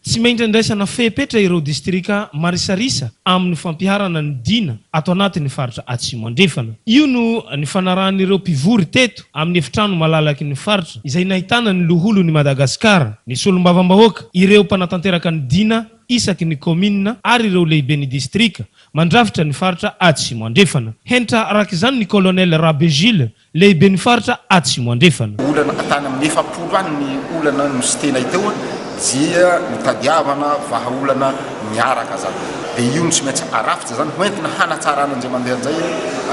Tsy maintsy andraisana fepetra ireo distrika marisarisa amin'ny fampiharana ny Dina ato anatin'ny faritra Atsimo Andrefana. Io no nifanarahan'ireo mpivory teto amin'ny efitrano malalaky ny faritra izay nahitana ny Loholon'i Madagasikara, ny Solombavambahoaka, ireo mpanatanteraka ny Dina isaky ny kaominina ary ireo lehiben'ny distrika mandrafitra ny faritra Atsimo Andrefana. Henitra arak'izany ny Colonel Rabe Jules, Lehiben'ny faritra Atsimo Andrefana. Olana hatrany amin'ny efapolo any ny olana no tsy tena hita eo dia nitadiavana vahaolana miaraka zany dia io no tsy maintsy arafitra zany hoentina hanatsarana njay mandeha njay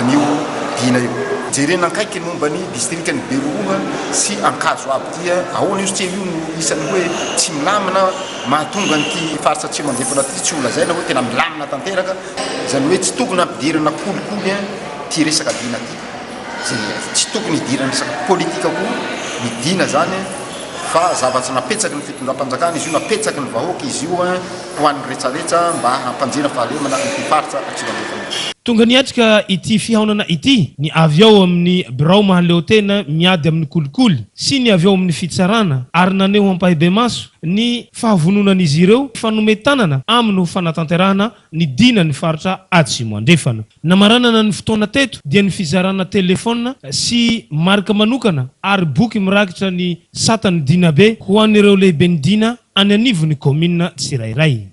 an'io dina io. Jerena akaiky ny momba ny distrikan'i Beroroha sy Ankazo aby dia ahoana io satria io no isan'ny hoe tsy milamina mahatonga an'ity faritra Atsimo Andrefana ity tsy ho lazaina hoe tena milamina tanteraka izany hoe tsy tokony hampidirana kolikoly ity resaka dina ity. Tsy tokony hidiran'ny resaka politika koa ny Dina zany fa zava-tsy napetsaky ny fitondram-panjakana izy io, napetsaky ny vahoaka izy io ho an'ny retraretra mba hampanjena fahalemana ity faritra atsimo andrefana. Tonga niatrika ity fihaonana ity ny avy ao amin'ny Birao Mahaleotena miady amin'ny kolikoly sy ny avy ao amin'ny Fitsarana ary naneho ampahibemaso ny fahavononan'izy ireo fa nomey tanana aminy ho fanatanterahana Nidina ny faritra Atsimo Andrefana. Namaranana ny fotoana teto dia ny fizarana telefona sy marika manokana ary boky mirakitra ny satan'ny Dinabe ho an'ireo lehiben'ny Dina any anivon'ny kaominina tsirairay.